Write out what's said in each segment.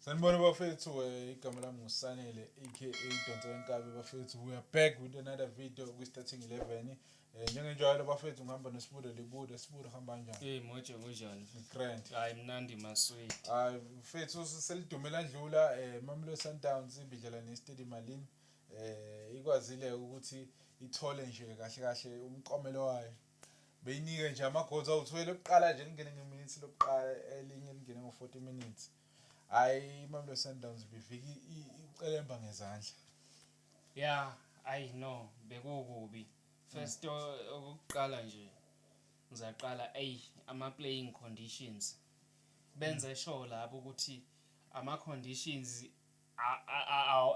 Sanibona bafethu eh, igama lami ngusanele aka idonso lenkabi bafethu we are back with another video kwi-starting 11 um eh, njengenjalo bafethu ngihamba nesibudo libudo sibudo hamba njani hey moje kunjani grand hayi mnandi masweet hayi mfethu selidumela ndlula um eh, mamelo sundowns ibidlala nestedi malini um ikwazile ukuthi ithole nje kahle kahle umqomelo wayo beyinike nje amagoals awu-12 ekuqala nje lingene ngeminitsi lokuqala elinye lingene ngo-40 minutes hhayi imamelodi sundowns bivika icelemba ngezandla ya ayi no bekukubi first okuqala nje ngizaqala eyi ama-playing conditions benze sure lapho ukuthi ama-conditions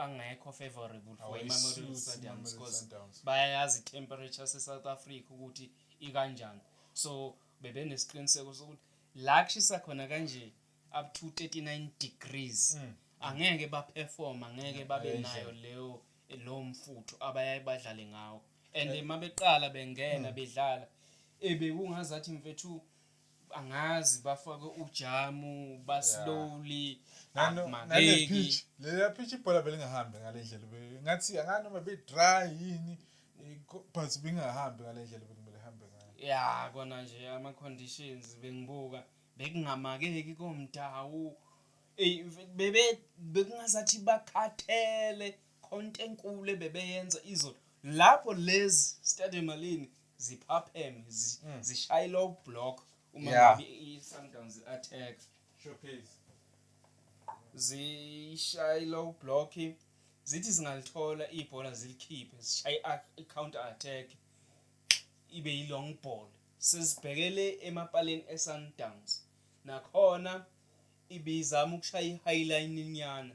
Angekho favourable for iMamelodi Sundowns coz bayayazi itemperature yase South Africa ukuthi ikanjani. So bebenesiqiniseko sokuthi la kushisa khona kanje up to 39 degrees mm. angeke baperform angeke babe nayo leyo lowo mfutho abayaye badlale ngawo and uma beqala bengena mm. bedlala ebekungazathi mfethu angazi bafake ujamu baslowly nalephitch leya phitch ibhola belingahambi ngale ndlela ngathi angani noma be-dry yini eh, but bengahambi ngale ndlela bekumele hambe ngayo ya kona nje ama-conditions bengibuka bekungamakeki komdawu eyi bekungazathi bakhathele Konto enkulu ebebeyenza izolo lapho lezi Stade Malini ziphapheme zi- Mm. zishaye low block uma Yeah. ngabe i-Sundowns attack Showcase. zishaye low block zithi zingalithola ibhola zilikhiphe zishaye i-counter attack ibe yi-long ball sesibhekele emapaleni e-sundowns nakhona ibizama ukushaya i-highline inyana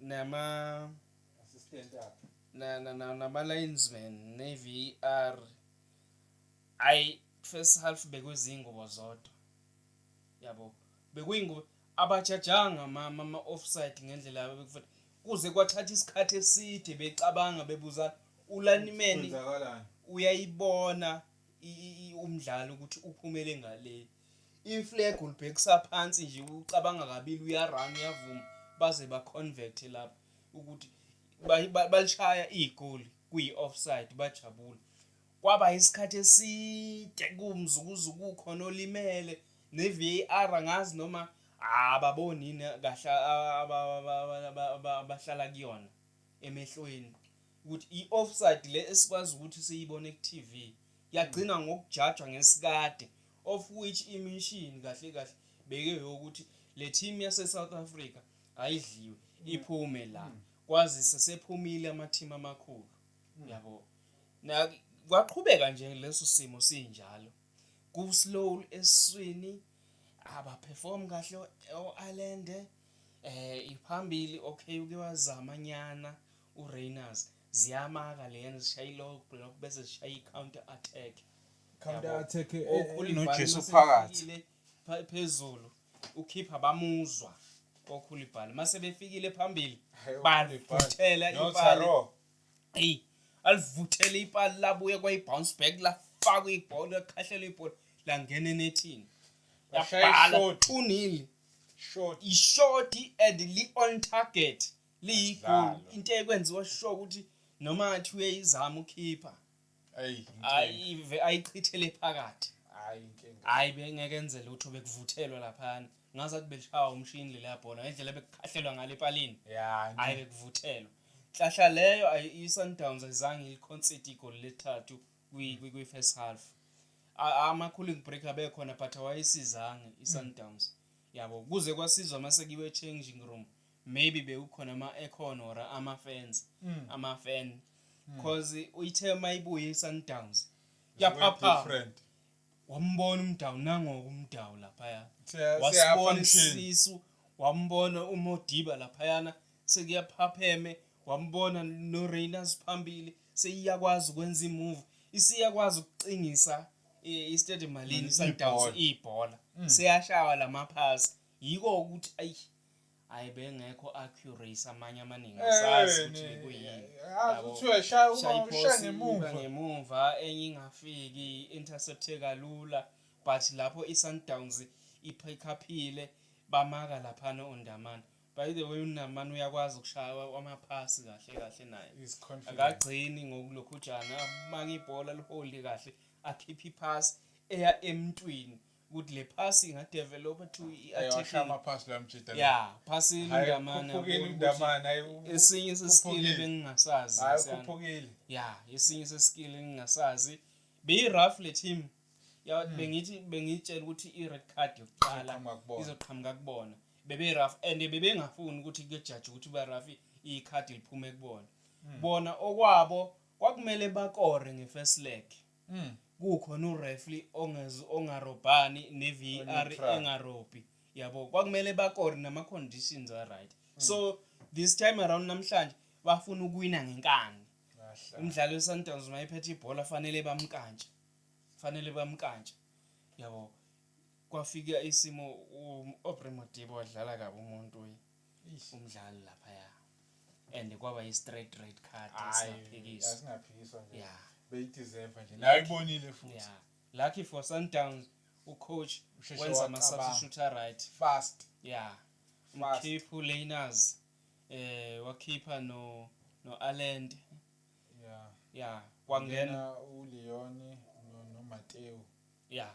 nama assistant akhe na na na nama linesman ne VAR ay first half bekuzingubo zodwa yabo bekuyingubo abajajanga mama ama offside ngendlela abekufanele kuze kwathatha isikhathi eside becabanga bebuza ulanimeni uyayibona umdlalo ukuthi uphumele ngaleli iflag ulibhekisa phansi nje ucabanga kabili uyarun uyavuma baze baconvert lapho ukuthi balishaya igoli kuyi-offside bajabula kwaba isikhathi eside kumzukuzu kukhona olimele ne-var angazi noma ababoni yini kahle abahlala kuyona emehlweni ukuthi i-offside le esikwazi ukuthi siyibone ku-tv yagcina ngokujajwa ngesikade of which imission kahle kahle bekeyokuthi le team yaseSouth Africa ayidliwe iphume la hmm. kwazise sephumile ama-team amakhulu hmm. yabo na kwaqhubeka nje leso simo sinjalo ku-slow eswini abaperform kahle o-Ireland eh iphambili okay uke wazama nyana uRayners Ziyamaka lena zishaya i-low block bese zishaya i-counter attack. Counter Yabo. attack eh, eh, Okhulibhali noJesu mase phakathi. befikile pha- phezulu ukhipha bamuzwa okhulibhali mase befikile phambili Hhayi, bavuthela No, ipali Taro. eyi alivuthele ipali labuye kwayi-bounce back lafakwa ibhola lakhahlelwa ibhola langena enethini Bashaya yabhala ishodi. unili Short. ishodi and li-on target liyigoli into ekwenziwa sho ukuthi noma ngathi uyayizama ukhipha ayive ayichithele phakathi hayi bengeke enze lutho bekuvuthelwa laphana ngazathi beshawa umshini leliya bhola ngendlela bekukhahlelwa ngale epalini hayi bekuvuthelwa nhlahla leyo i-sundowns ayizange ilikhonside igoli lethathu kwi-first half ama-cooling break abekhona but awayisizange i-sundowns mm. yabo kuze kwasizwa mase kiwe changing room maybe bekukhona ama-aircon or ama-fans mm. ama-fan mm. cause uyithe uma ibuye i-sundowns yaphapha wambona umdawu nangoku umdawu laphaya wasibona isisu wambona umodiba laphayana sekuyaphapheme wambona no-rainers phambili seyiyakwazi ukwenza imove isiyakwazi ukucingisa eh, istadium malini sundowns ibhola mm. seyashawa la maphasi yiko ukuthi ayi ayi bengekho accuracy amanye amaningi eh, asazi ukuthi kuyini kuthiwa shaya ngemuva ngemuva enye ingafiki intercepte kalula but lapho i-sundowns iphikhaphile bamaka laphana undamane by the way unamane uyakwazi ukushaya amaphasi kahle kahle naye akagcini ngokulokhujana amake ibhola liholde kahle akhiphe iphasi eya emntwini ukuthi le phasi inga develop to iarticle phasi la mjita yeah phasi indamana kuphukile indamana esinye seskill bengingasazi hayi kuphukile yeah esinye seskill engingasazi be rough le team ya hmm. bengithi bengitshela ukuthi i red card yokuqala izoqhamuka kubona bebe rough and bebengafuni ukuthi kujaji ukuthi ba rough i card liphume kubona hmm. bona okwabo kwakumele bakore nge first leg kukhona ureferee ongez ongarobhani neVAR engarobhi yabo kwakumele bakore nama conditions a right hmm. so this time around namhlanje bafuna ukuwina ngenkani umdlali weSundowns mayephethe ibhola fanele bamkantshe fanele bamkantshe yabo kwafika isimo uAubrey Modibo wadlala kabi umuntu Eish. umdlali laphaya and kwaba yi-straight red card Hayi, esingaphikiswa asingaphikiswa nje ya beyideserve nje naye ibonile futhi ya lucky for sundowns ucoach Usheshe wenza wacabanga. ama-substitute aright fast ya Fast. umkhipha uleyners eh wakhipha no no-alend yeah ya kwangena uleone nomateo ya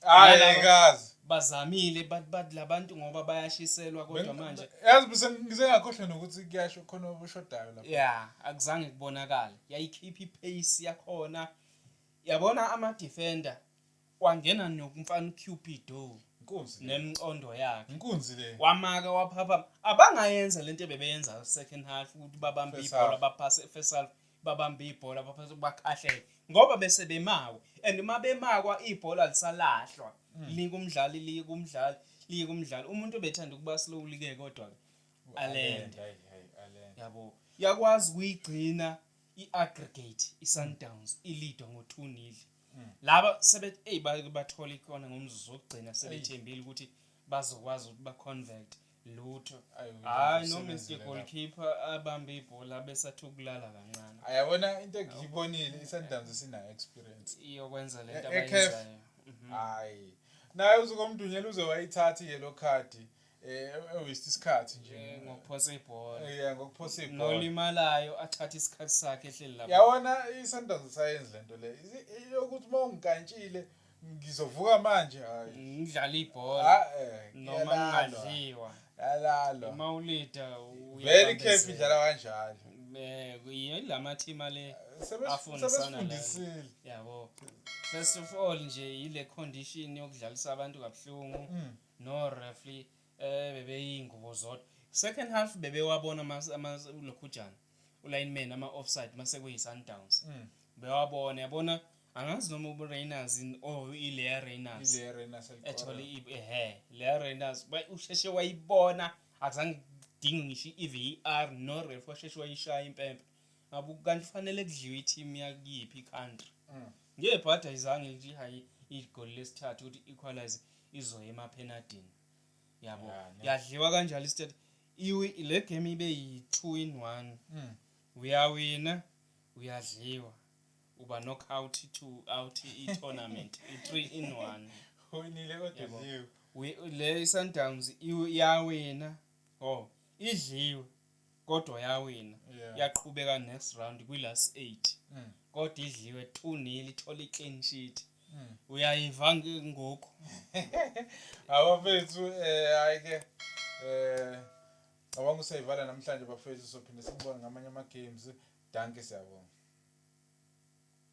hayi Nalaba- ngikazi bazamile but but labantu ngoba bayashiselwa kodwa manje yazi bese ngisengakhohlwa nokuthi kuyasho khona obushodayo lapha yeah akuzange kubonakale yayikhipha ipace yakhona yabona ama defender wangena nokumfana uCupido inkunzi le nemcondo yakhe inkunzi le wamaka waphapha abangayenza lento bebeyenza second half ukuthi babambe First ibhola half. baphase first half babambe ibhola baphethe bakhahlele ngoba bese bemawe and uma bemakwa ibhola lisalahlwa mm. lika umdlali lika umdlali lika umdlali umuntu obethanda ukuba slowly ke kodwa ke alenda yabo yakwazi kuyigcina iaggregate isundowns ilidwa ngo 2 nil mm. laba sebethi hey bathola ikona ngomzuzu wokugcina sebethembile ukuthi bazokwazi ukuthi ba convert lutho hayi noma iske goalkeeper abambe ibhola besathi ukulala kancane ayabona into engiyibonile isundowns sina experience iyokwenza le nto e- e abayenzayo mhm. hayi naye uzokomdunyela uze wayithatha i-yellow card eh ewist isikhathi nje eh, ngokuphosa ibhola eh, yeah ngokuphosa ibhola nolimalayo athatha isikhathi sakhe ehleli lapha yawona isundowns sayenza lento le yokuthi mawungikantshile ngizovuka manje hayi ngidlala ibhola ah, eh, noma ngingadliwa yalalo uma ulida very careful dlala kanjalo eh yilama team ale afundisana yabo first of all nje yile condition yokudlalisa abantu kabuhlungu mm. no referee eh bebeyingubo zodwa second half bebewabona ama lokhujana ulineman ama offside mase kuyi Sundowns mm. bewabona yabona angazi noma ubureyners in or oh, ileya reyners ileya reyners ethole ehe leya reyners usheshe wayibona akuzange kudinge ngisho i-var no ref washeshe wayishaya impempe ngabe kanti kufanele kudliwe i-team yakuyiphi i-country mm. ngebhadi ayizange nje hayi igoli lesithathu ukuthi equalize izoya emaphenadini yabo yadliwa kanjalo isithathu le game ibe yi-two in one mm. uyawina uyadliwa uba knockout two out i-tournament i-three in one uwinile kodwa le i-sundowns yawina o oh, idliwe kodwa yawina yaqhubeka next round kwi-last eight mm. kodwa idliwe two nil ithola i-clean sheet mm. uyayiva ngoku abafethu um eh, hayi-ke um eh, Cabanga ukuthi siyayivala namhlanje bafethu sophinde sikubone ngamanye ama games. Dankie siyabonga.